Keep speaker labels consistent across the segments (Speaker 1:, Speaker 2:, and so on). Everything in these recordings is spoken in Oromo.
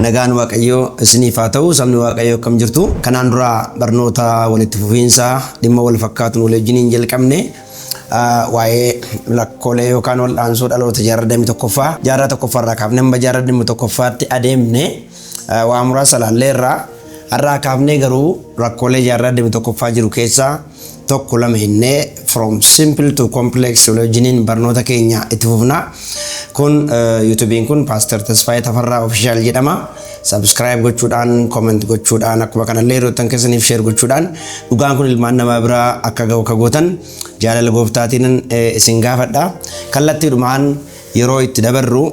Speaker 1: Nagaan Waaqayyoo isiniif haa ta'u sabni Waaqayyoo akkam jirtu kanaan dura barnoota walitti fufiinsa dhimma wal fakkaatuun wal wajjiniin jalqabne ah, waa'ee lakkoolee yookaan wal'aansoo dhaloota jaarraa digdamii tokkoffaa jaarraa tokkoffaa irraa kaafnee hanga jaarraa digdamii tokkoffaatti adeemne ah, waa muraasa ilaallee irraa har'aa kaafnee garuu rakkoolee jaarraa digdamii tokkoffaa jiru keessaa tokko lama jennee from simple to complex wal wajjiniin barnoota keenya itti fufna. Kun yuutubiin kun Paaster Tasfaayee Tafarraa Ofishaal jedhama. Subscribe gochuudhaan, comment gochuudhaan, akkuma kanallee hiriyoottan keessaniif share gochuudhaan dhugaan kun ilmaan namaa biraa akka ga'u akka gootan jaalala gooftaatiin isin gaafadha. Kallattiidhumaan yeroo itti dabarru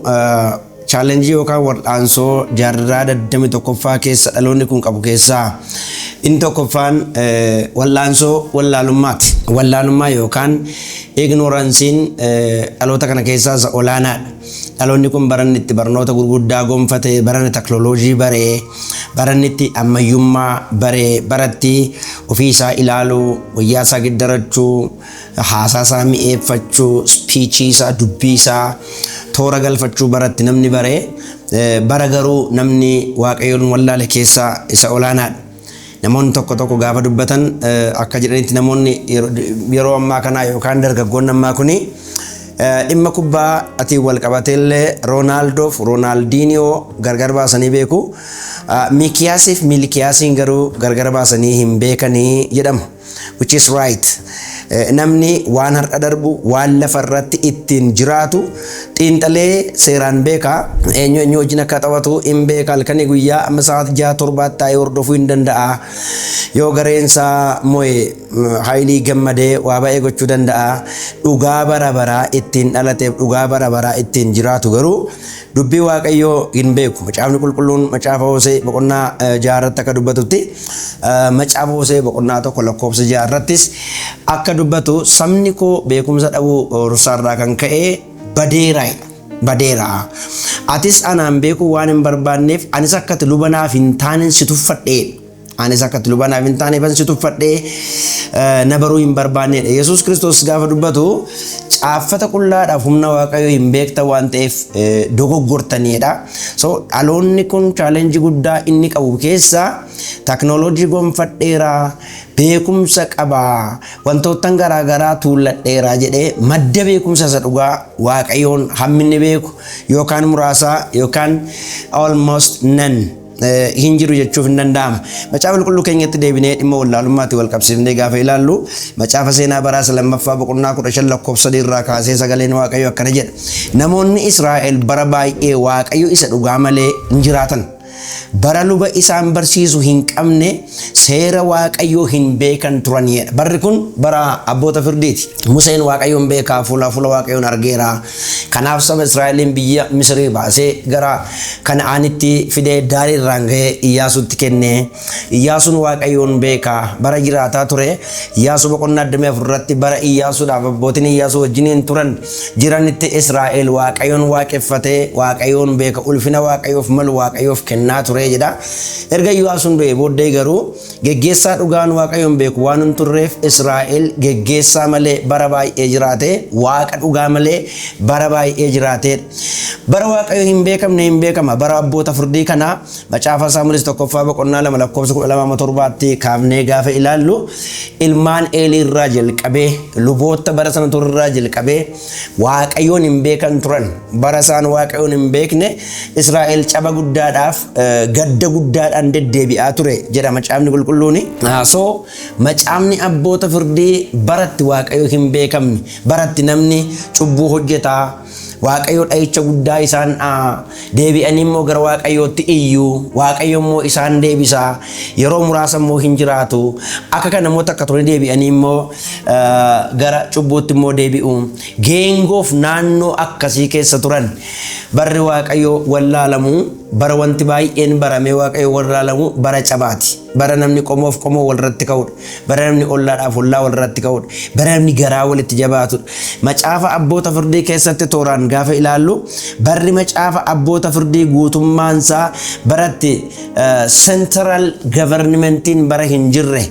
Speaker 1: Chaalenjii yookaan wal'aansoo jaarraa 21ffaa keessa dhaloonni kun qabu keessaa inni tokkoffaan wal'aansoo wallaalummaati. Wallaalummaa yookaan ignoransiin dhaloota kana keessaa isa olaanaadha. Dhaloonni kun baranni itti barnoota gurguddaa gonfate, baranni teknoloojii bare, baranni itti ammayyummaa bare, baratti ofii isaa ilaaluu, wayyaa isaa giddarachuu, Haasaa isaa mi'eeffachuu, spiichii isaa, dubbii isaa toora galfachuu baratti namni bare eh, bara garuu namni waaqayyoon wallaale keessaa isa olaanaadha. Namoonni tokko tokko gaafa dubbatan eh, akka jedhanitti namoonni yeroo- yeroo ammaa kanaa yookaan dargaggoonni ammaa kuni eh, dhimma kubbaa atiin wal qabatee illee Roonaaldoof Roonaaldiniyoo gargar baasanii beeku. Ah, Miikiyaasiif Miilikiyaasiin garuu gargar baasanii hin beekanii jedhama. which is right. Namni waan har'a darbu waan lafa irratti ittiin jiraatu xiinxalee seeraan beeka. Eenyu eenyu wajjin akka taphatu hin beeka halkanii guyyaa amma sa'aati jaha torbaatti taa'ee hordofuu hin danda'a. Yoo gareen isaa mo'e haayilii gammadee waa baay'ee gochuu danda'a. Dhugaa bara baraa ittiin dhalateef dhugaa bara baraa ittiin jiraatu garuu Dubbii Waaqayyoo hin beeku. Macaafni qulqulluun macaafa Hosee boqonnaa eh, ja'a irratti akka dubbatutti eh, macaafa Hosee boqonnaa tokko lakkoofsa ja'a irrattis akka dubbatu sabni koo beekumsa dhabuu horsaarraa kan ka'e badeera jedha. Badeera. Atis anaan beekuu waan hin barbaanneef anis akka ati luba naaf hin taanen si tuffadhee. Anis akka ati luba naaf hin taaneefan si tuffadhee eh, na baruu hin barbaanneedha. Yesuus Kiristoos gaafa dubbatu caaffata qullaadhaaf humna waaqayyoo hin beektan waan ta'eef eh, dogoggortaniidha. So dhaloonni kun chaalenjii guddaa inni qabu keessaa taknooloojii gonfadheera, beekumsa qaba, wantoottan garaagaraa tuulladheera jedhee madda beekumsa isa dhugaa waaqayyoon hamminni beeku yookaan muraasaa yookaan almost none hin jiru jechuuf hin danda'ama. Macaafa qulqulluu keenyatti deebinee dhimma wallaalummaatti wal qabsiifnee gaafa ilaallu macaafa seenaa baraa isa lammaffaa boqonnaa kudha shan lakkoofsa sadii irraa kaasee sagaleen waaqayyo akkana jedha. Namoonni Israa'el bara baay'ee waaqayyo isa dhugaa malee hin jiraatan. Bara luba isaan barsiisu hin qabne Seera Waaqayyoo hin beekan turani jedha. Barri kun bara abboota firdiiti. Museen Waaqayyoon beekaa fuulaa fuula Waaqayyoon argeera. Kanaaf saba Israa'eliin biyya Misirii baasee gara Kana'aanitti fidee daarii irraan ga'ee Iyyaasuutti kenne. Iyyaasuun Waaqayyoon beeka bara jiraataa ture. Iyyaasuu boqonnaa 24 irratti bara Iyyaasuudhaaf abbootiin Iyyaasuu wajjiniin turan jiranitti Israa'el Waaqayyoon waaqeffatee Waaqayyoon beeka ulfina Waaqayyoof malu Waaqayyoof kennaa ture jedha. Erga Iyyaasun du'ee booddee garuu geggeessaa dhugaan Waaqayyoon beeku waan hin turreef Israa'el geggeessaa malee bara baay'ee jiraate, Waaqa dhugaa malee bara baay'ee jiraateedha. Bara Waaqayyo hin beekamne hin beekama. Bara abboota furdii kana macaafa Saamuelis tokkoffaa boqonnaa 2 lakkoofsa 12-7tti kaafnee gaafa ilaallu ilmaan Eelii irraa jalqabee luboota bara sana turre irraa jalqabee Waaqayyoon hin beekan turan. Bara isaan Waaqayyoon hin beekne Israa'el caba guddaadhaaf gadda guddaadhaan deddeebi'aa ture jedha macaafni qulqulluun. Haasoo macaafni abboota firdii baratti Waaqayyo hin beekamne baratti namni cubbuu hojjetaa Waaqayyo dha'icha guddaa isaan Deebi'anii immoo gara Waaqayyootti iyyu, Waaqayyo immoo isaan deebisa, yeroo muraasa immoo hin jiraatu. Akka kana immoo takka turanii deebi'anii immoo gara cubbuutti immoo deebi'u. Geengoof naannoo akkasii keessa turan. Barri Waaqayyoo wallaalamu bara wanti baay'een baramee Waaqayyoo wallaalamu bara cabaati. Bara namni qomoof qomoo walirratti ka'udha. Bara namni ollaadhaaf ollaa walirratti ka'udha. Bara namni garaa walitti jabaatudha. Macaafa abboota firdii keessatti tooraan gaafa ilaallu barri macaafa abboota firdii guutummaansaa baratti seentiraal gavarnimentiin bara hin jirre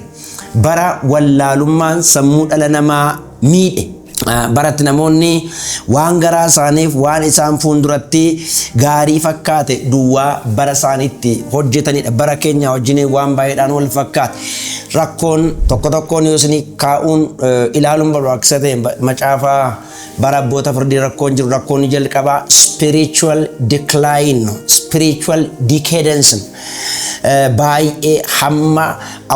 Speaker 1: bara wallaalummaan sammuu dhala namaa miidhe baratti namoonni waan garaa isaaniif waan isaan fuulduratti gaarii fakkaate duwwaa bara isaaniitti hojjetanidha. Bara keenya wajjin waan baay'eedhaan wal fakkaata. Rakkoon tokko tokkoon yoo isin kaa'uun ilaaluun barbaachisa ta'e macaafa bara abboota firdii rakkoon jiru rakkoon jalqabaa spiritual decline spiritual decadence baay'ee hamma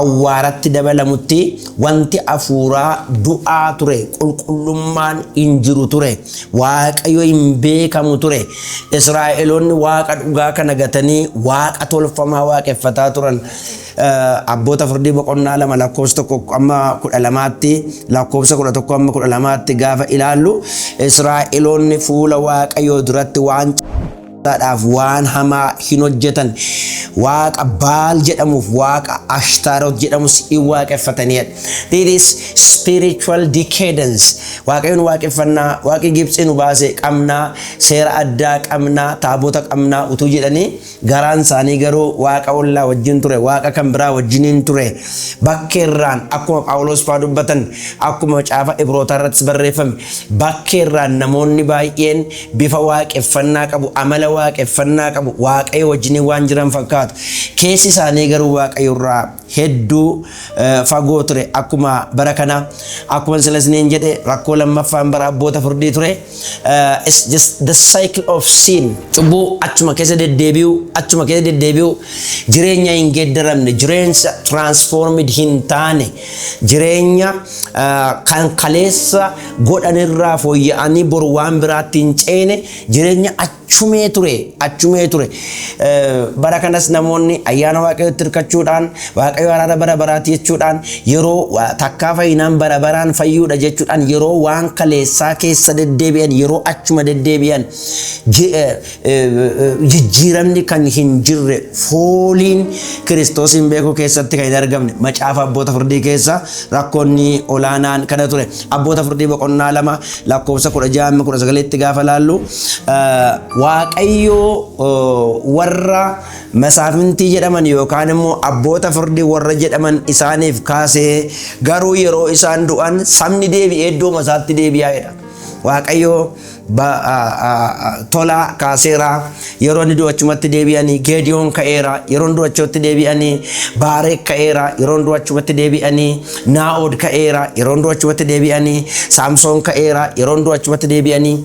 Speaker 1: awwaaratti dabalamutti wanti afuuraa du'aa ture qulqullummaan hin jiru ture waaqayyo hin beekamu ture israa'eloonni waaqa dhugaa kana gatanii waaqa tolfamaa waaqeffataa turan abboota firdii boqonnaa lama lakkoofsa tokko amma kudha lamaatti lakkoofsa kudha tokko amma kudha lamaatti gaafa ilaallu israa'eloonni fuula waaqayyoo duratti waan dhaaf waan hamaa hin hojjetan waaqa baal jedhamuuf waaqa ashtaarot jedhamus hin waaqeffataniidha. This is spiritual decadence. Waaqayyoon waaqeffannaa waaqi Gibxii nu baase qabnaa seera addaa qabnaa taabota qabnaa utuu jedhanii garaan isaanii garuu waaqa ollaa wajjin ture waaqa kan biraa wajjiniin ture bakkeerraan akkuma Phaawulos fa'aa dubbatan akkuma macaafa Ibrootaa irrattis barreeffame bakkeerraan namoonni baay'een Bifa waaqeffannaa qabu, amala waaqeffannaa qabu, Waaqayyoo wajjiniin waan jiran fakkaatu. Keessi isaanii garuu Waaqayyo irraa hedduu fagoo ture. Akkuma bara kana akkuma sila isiniin jedhe rakkoo lammaffaan bara abboota firdii ture. It's just the cycle of sin. Cubbuu achuma keessa deddeebi'u, achuma keessa deddeebi'u jireenya hin geeddaramne, jireenya transformed hin taane. Jireenya kan kaleessa godhan irraa fooyya'anii bor waan biraatti hin ceene jireenya achumee ture achumee ture. Bara kanas namoonni ayyaana waaqayyootti hirkachuudhaan waaqayyo araara bara baraati jechuudhaan yeroo takkaa fayyinaan bara baraan fayyuudha jechuudhaan yeroo waan kaleessaa keessa deddeebi'an yeroo achuma deddeebi'an Jijjiiramni kan hin jirre fooliin Kiristoosiin beekuu keessatti kan hin argamne macaafa abboota firdii keessa rakkoonni olaanaan kana ture. Abboota firdii boqonnaa lama lakkoofsa kudha ja'a hamma kudha sagaliitti gaafa laallu Waaqayyoo warra masaafintii jedhaman yookaan immoo abboota firdii warra jedhaman isaaniif kaasee garuu yeroo isaan du'an sabni deebi'ee iddooma isaatti deebi'aa jedha. Waaqayyoo Ba, a, a, a, tolaa kaaseera yeroo inni du'u achumatti deebi'anii geediyoon ka'eera yeroo inni du'u achumatti deebi'anii baareek ka'eera yeroo inni du'u achumatti deebi'anii naa'ood ka'eera yeroo inni du'u achumatti deebi'anii saamsoon ka'eera yeroo inni du'u achumatti deebi'anii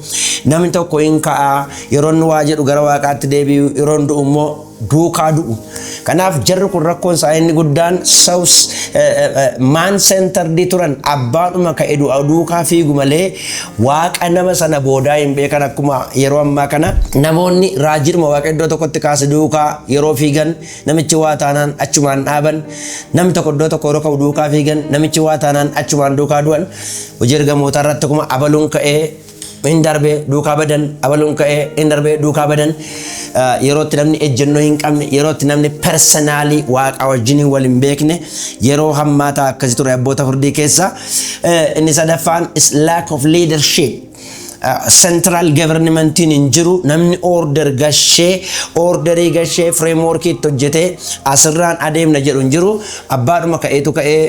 Speaker 1: namni tokko in ka'a yeroo inni waa jedhu gara waaqaatti deebi'u yeroo inni du'u immoo duukaa du'u. Kanaaf jarri kun rakkoon isaa inni guddaan saus maan seentardii turan abbaadhuma ka'e du'a duukaa fiigu malee waaqa nama sana boodaa hin beekan akkuma yeroo ammaa kana namoonni raajiidhuma waaqa iddoo tokkotti kaase duukaa yeroo fiigan namichi waa taanaan achumaan dhaaban namni tokko iddoo tokko yeroo ka'u duukaa fiigan namichi waa taanaan achumaan duukaa du'an hojii ergamootaa irratti akkuma abaluun ka'ee in darbe duukaa badan abaluun ka'ee in darbe duukaa badan yerootti namni ejjennoo hin qabne yerootti namni personaalii waaqa wajjinii wal hin beekne yeroo hammaataa akkasi ture abboota furdii keessa inni sadaffaan is lack of leadership central governmentiin hin jiru namni order gashee orderii gashee frameworkii itti hojjetee asirraan adeemna jedhu hin jiru abbaadhuma ka'eetu ka'ee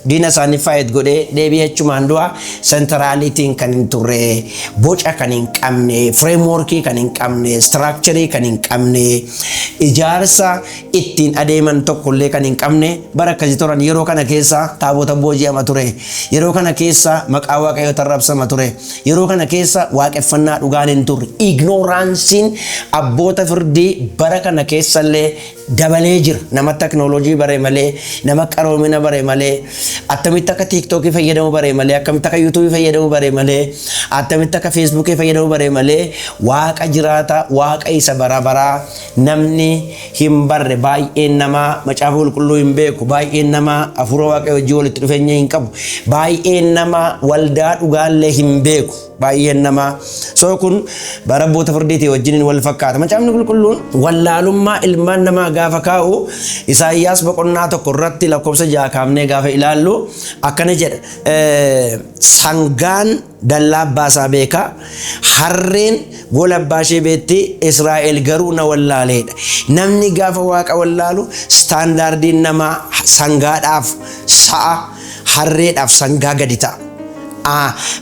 Speaker 1: Diina isaanii fight godhee deebi'ee achumaan du'a. Centrality'n kan hin turre, boca kan hin qabne, frameworkii kan hin qabne, structure'ii kan hin qabne, ijaarsa ittiin adeeman tokko illee kan hin qabne bara akkasii turan. Yeroo kana keessa taabota booji'ama ture. Yeroo kana keessa maqaa waaqayyoota arrabsama ture. Yeroo kana keessa waaqeffannaa dhugaan hin turre. Ignoransiin abboota firdii bara kana keessa illee dabalee jira. Nama taknooloojii bare malee, nama qaroomina bare malee, attamitti akka tiiktookii fayyadamu bare malee, akkamitti akka yuutuubii fayyadamu bare malee, attamitti akka feesbuukii fayyadamu bare malee Waaqa jiraata, Waaqa isa bara baraa namni hin barre baay'een namaa Macaafa Qulqulluu hin beeku, baay'een namaa Hafuura Waaqayyoo wajjin walitti dhufeenya hin qabu, baay'een namaa waldaa dhugaallee hin beeku. baay'een namaa soo kun bara abboota furdiitii wajjiniin wal fakkaata macaafni qulqulluun wallaalummaa ilmaan namaa gaafa kaa'u isaayyaas boqonnaa tokko irratti lakkoofsa ja'a kaafnee gaafa ilaallu akkana jedha eh, sangaan dallaa abbaa isaa beeka harreen gola abbaa ishee beetti israa'el garuu na wallaaleedha namni gaafa waaqa wallaalu staandaardiin namaa sangaadhaaf sa'a harreedhaaf sangaa gadi ta'a. A,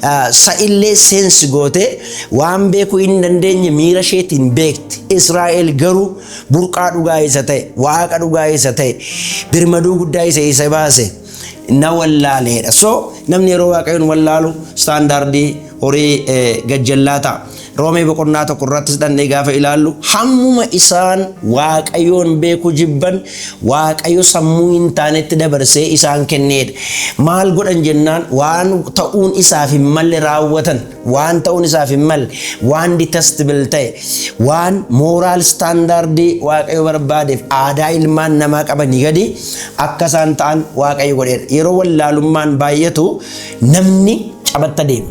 Speaker 1: a, Sa'illee seensi gootee waan beekuu hin dandeenye miira isheetiin beekti. Israa'el garuu burqaa dhugaa isa ta'e, waaqa dhugaa isa ta'e, birmaduu guddaa isa isa baase na wallaaleedha. So namni yeroo waaqayyoon wallaalu istaandaardii horii eh, gajjallaa ta'a. Roomee boqonnaa tokko irrattis dhannee gaafa ilaallu hammuma isaan waaqayyoon beekuu jibban waaqayyo sammuu hin taanetti dabarsee isaan kenneedha. Maal godhan jennaan waan ta'uun isaaf hin malle raawwatan waan ta'uun isaaf hin malle waan detestable ta'e waan mooraal istaandaardii waaqayyo barbaadeef aadaa ilmaan namaa qabanii gadi akka isaan ta'an waaqayyo godheedha. Yeroo wallaalummaan baay'atu Namni cabatta deemu.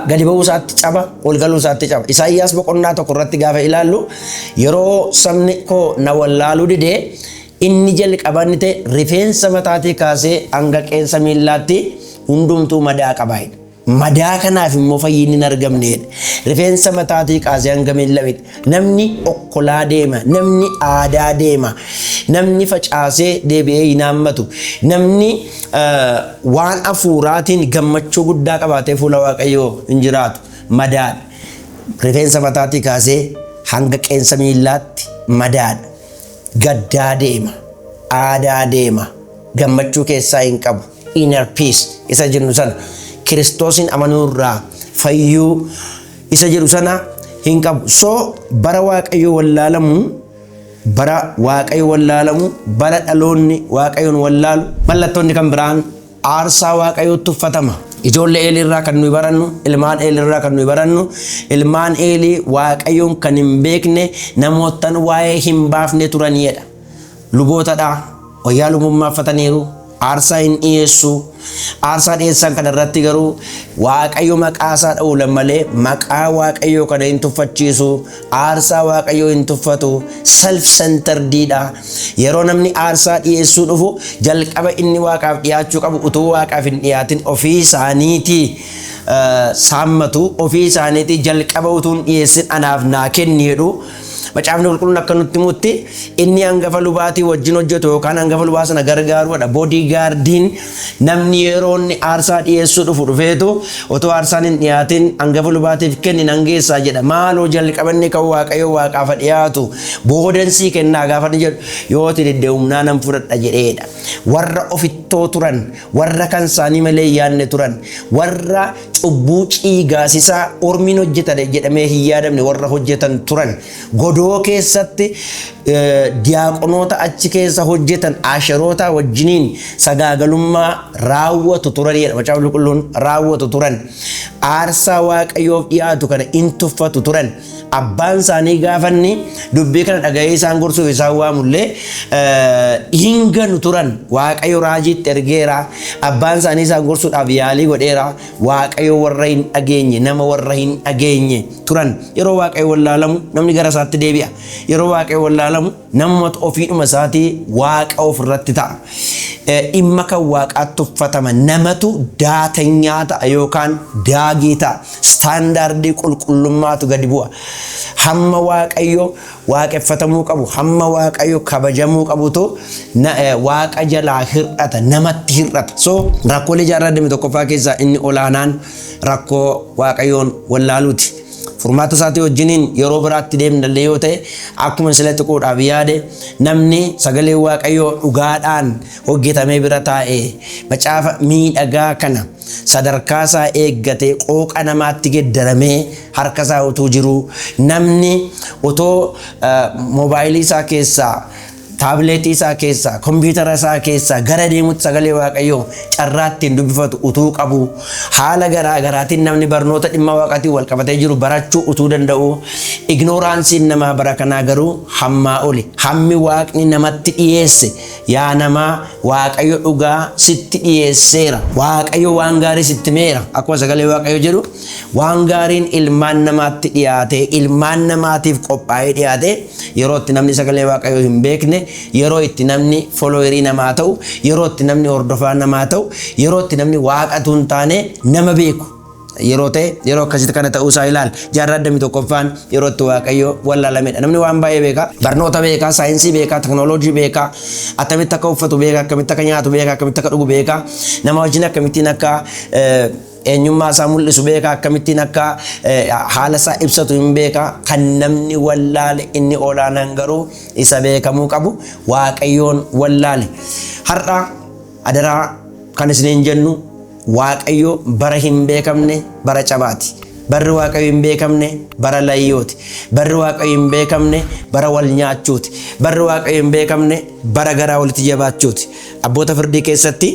Speaker 1: Gadi ba'uu isaatti caba, ol galuu isaatti caba. Isaayyaas boqonnaa tokko irratti gaafa ilaallu yeroo sabni koo na wallaaluu didee inni jalqaba inni ta'e rifeensa mataatii kaasee hanga qeensa miillaatti hundumtuu madaa qaba. Madaa kanaaf immoo fayyinni hin argamne. Rifeensa mataatii kaasee hanga miilla Namni okkolaa deema, namni aadaa deema, namni facaasee deebi'ee hin haammatu, namni waan hafuuraatiin gammachuu guddaa qabaatee fuula Waaqayyoo hin jiraatu madaadha. Rifeensa mataatii kaasee hanga qeensa miillaatti madaadha. Gaddaa deema, aadaa deema, gammachuu keessaa hin qabu. Inner peace isa jennu sana Kiristoosiin amanuu irraa fayyuu isa jedhu sana hin qabu. So bara waaqayyo wallaalamu bara waaqayyo wallaalamu bara dhaloonni waaqayyoon wallaalu mallattoonni kan biraan aarsaa waaqayyoo tuffatama. Ijoollee eelii irraa kan nuyi barannu, ilmaan eelii irraa kan nuyi barannu, ilmaan eelii waaqayyoon kan hin beekne namoottan waa'ee hin baafne turaniidha. Lubootadha, wayyaa lubummaa uffataniiru, aarsaa hin dhiyeessu. Aarsaa dhiyeessan kana irratti garuu Waaqayyo maqaa isaa dha'uulan malee maqaa Waaqayyoo kana hin tuffachiisu, aarsaa Waaqayyoo hin tuffatu, self centeredidha. Yeroo namni aarsaa dhiyeessuu dhufu jalqaba inni Waaqaaf dhiyaachuu qabu utuu Waaqaaf hin dhiyaatin ofii isaaniitii eh, saammatu, ofii isaaniitii jalqaba utuu hin dhiyeessin anaaf naa kenni jedhu. Macaafni Qulqulluun akka nutti himutti inni hangafa lubaatii wajjin hojjetu yookaan hangafa lubaa sana gargaaruudha. Boodii gaardiin namni yeroo inni aarsaa dhiyeessuu dhufu dhufeetu otoo aarsaan hin dhiyaatin hangafa lubaatiif kenni nan geessaa jedha. Maaloo jalqaba inni kan Waaqayyoo waaqaaf haa dhiyaatu boodan sii kennaa gaafa inni jedhu yoo ati didde humnaa nan fudhadha jedheedha. Warra ofittoo turan, warra kan isaanii malee hin yaadne turan, warra Cubbuu ciigaasisaa ormiin hojjetadha jedhamee hin yaadamne warra hojjetan turan. Godoo keessatti diyaaqonoota achi keessa hojjetan asherootaa wajjiniin sagaagalummaa raawwatu turan jedha macaafa qulqulluun raawwatu turan. Aarsaa waaqayyoof dhiyaatu kana in tuffatu turan. Abbaan isaanii gaafa inni dubbii kana dhaga'ee isaan gorsuuf isaan waamullee hin ganu turan. Waaqayyo raajiitti ergeera. Abbaan isaanii isaan gorsuudhaaf yaalii godheera. Waaqayyo warra hin dhageenye, nama warra hin dhageenye turan. Yeroo Waaqayyo wallaalamu namni gara isaatti deebi'a. Yeroo Waaqayyo wallaalamu Namumatu ofiidhuma isaatii waaqa of irratti ta'a. Dhimma kan waaqaatti uffatama. Namatu daatanyaa ta'a yookaan daagii ta'a. Istaandaardii qulqullummaatu gadi bu'a. Hamma Waaqayyo waaqeffatamuu qabu, hamma Waaqayyo kabajamuu qabutu na- eh, waaqa jalaa hir'ata, namatti hir'ata. So rakkoolee jaarraa 21ffaa keessaa inni olaanaan rakkoo Waaqayyoon wallaaluuti. Furmaata isaatii wajjiniin yeroo biraatti deemnallee yoo ta'e akkuma sila xiquudhaaf yaade namni sagalee waaqayyoo dhugaadhaan hojjetamee bira taa'e macaafa miidhagaa kana sadarkaa isaa eeggatee qooqa namaatti geddaramee harka isaa utuu jiruu namni otoo moobaayilii isaa keessaa Taableetii isaa keessaa, kompiitara isaa keessaa gara deemutti sagalee Waaqayyoo carraa ittiin dubbifatu utuu qabuu, haala garaa garaatiin namni barnoota dhimma Waaqaatiin wal qabatee jiru barachuu utuu danda'uu, ignoraansiin namaa bara kanaa garuu hammaa oli. Hammi Waaqni namatti dhiyeesse, Yaa namaa, Waaqayyo dhugaa sitti dhiyeesseera. Waaqayyo waan gaarii sitti himeera. Akkuma sagalee Waaqayyoo jedhu, Waan gaariin ilmaan namaatti dhiyaatee, ilmaan namaatiif qophaa'ee dhiyaate, yeroo itti namni sagalee Waaqayyoo hin beekne, yeroo itti namni foloowerii namaa ta'u, yeroo itti namni hordofaa namaa ta'u, yeroo itti namni Waaqa utuu hin taane nama beeku yeroo ta'e, yeroo akkasitti kana ta'uu isaa ilaala. Jaarraa 21ffaan yeroo itti Waaqayyo wallaalamedha. Namni waan baay'ee beeka. Barnoota beeka, saayinsii beeka, teknooloojii beeka, attamitti akka uffatu beeka, akkamitti akka nyaatu beeka, akkamitti akka dhugu beeka, nama wajjin akkamittiin akka eh, Eenyummaa isaa mul'isu beeka akkamittiin akka haala isaa ibsatu hin beeka kan namni wallaale inni olaanaan garuu isa beekamuu qabu waaqayyoon wallaale. Har'a adaraa kan isiniin jennu waaqayyo bara hin beekamne bara cabaati. Barri waaqayyo hin beekamne bara layyooti. Barri waaqayyo hin beekamne bara wal nyaachuuti. Barri waaqayyo hin beekamne bara garaa walitti jabaachuuti. Abboota firdii keessatti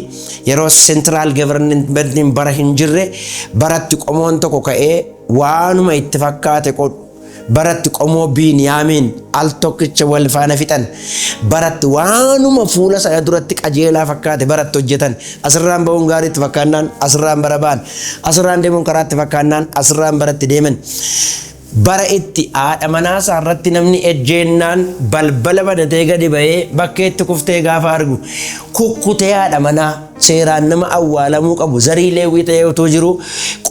Speaker 1: yeroo seentiraal gavarnimentiin bara hin jirre baratti qomoon tokko ka'ee waanuma itti fakkaate qodhu baratti qomoo biiniyaamiin al tokkicha wal faana fixan baratti waanuma fuula sana duratti qajeelaa fakkaate baratti hojjetan asirraan ba'uun gaariitti fakkaannaan asirraan bara ba'an asirraan deemuun karaatti fakkaannaan asirraan baratti deeman Bara itti haadha manaasaa irratti namni ejjeennaan balbala banatee gadi ba'ee bakkeetti kuftee gaafa argu kukkutee haadha manaa seeraan nama awwaalamuu qabu zarii Leewwii ta'ee utuu jiruu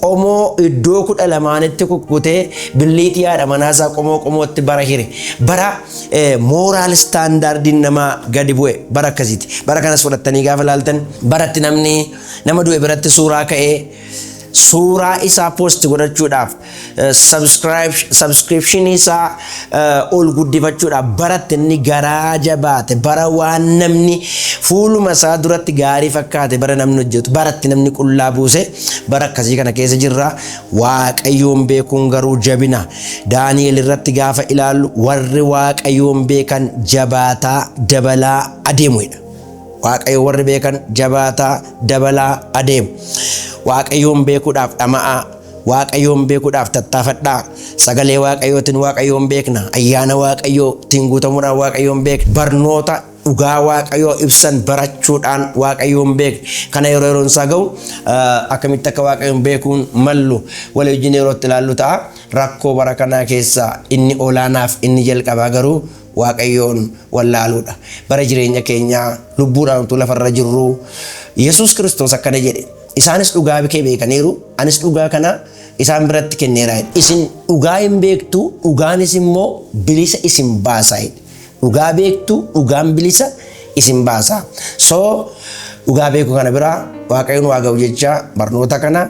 Speaker 1: qomoo iddoo kudha lamaanitti kukkutee billiitii haadha manaasaa qomoo qomootti bara hire bara mooraal istaandaardiin namaa gadi bu'e bara akkasiiti. Bara kanas fudhattanii gaafa ilaaltan baratti namni nama du'e biratti suuraa ka'ee Suuraa isaa post godhachuudhaaf, subscription isaa ol guddifachuudhaaf baratti inni garaa jabaate, bara waan namni fuuluma isaa duratti gaarii fakkaate bara namni hojjetu, baratti namni qullaa buuse, bara akkasii kana keessa jirra. Waaqayyoon beekuun garuu jabina. Daani'el irratti gaafa ilaallu warri Waaqayyoon beekan jabaataa, dabalaa adeemuidha. Waaqayyo warri beekan jabaataa, dabalaa adeemu. Waaqayyoon beekuudhaaf dhama'aa. Waaqayyoon beekuudhaaf tattaafadhaa. Sagalee Waaqayyootiin Waaqayyoon beekna. Ayyaana Waaqayyootiin guutamuudhaan Waaqayyoon beekna. Barnoota dhugaa Waaqayyoo ibsan barachuudhaan Waaqayyoon beekna. Kana yeroo yeroon isaa ga'u akkamitti akka Waaqayyoon beekuun mallu walii wajjin yeroo itti ilaallu ta'a. Rakkoo bara kanaa keessaa inni olaanaaf inni jalqabaa garuu Waaqayyoon wallaaluudha. Bara jireenya keenyaa lubbuudhaan utuu lafa irra jirruu Yesuus Kiristoos akkana jedhe, Isaanis dhugaa bkee beekaniiru, anis dhugaa kana isaan biratti kenneera jedhe. Isin dhugaa in beektu, dhugaanis immoo bilisa isin baasa jedhe. Dhugaa beektu, dhugaan bilisa isin baasa. So dhugaa beekuu kana bira Waaqayyoon waa ga'u jecha barnoota kana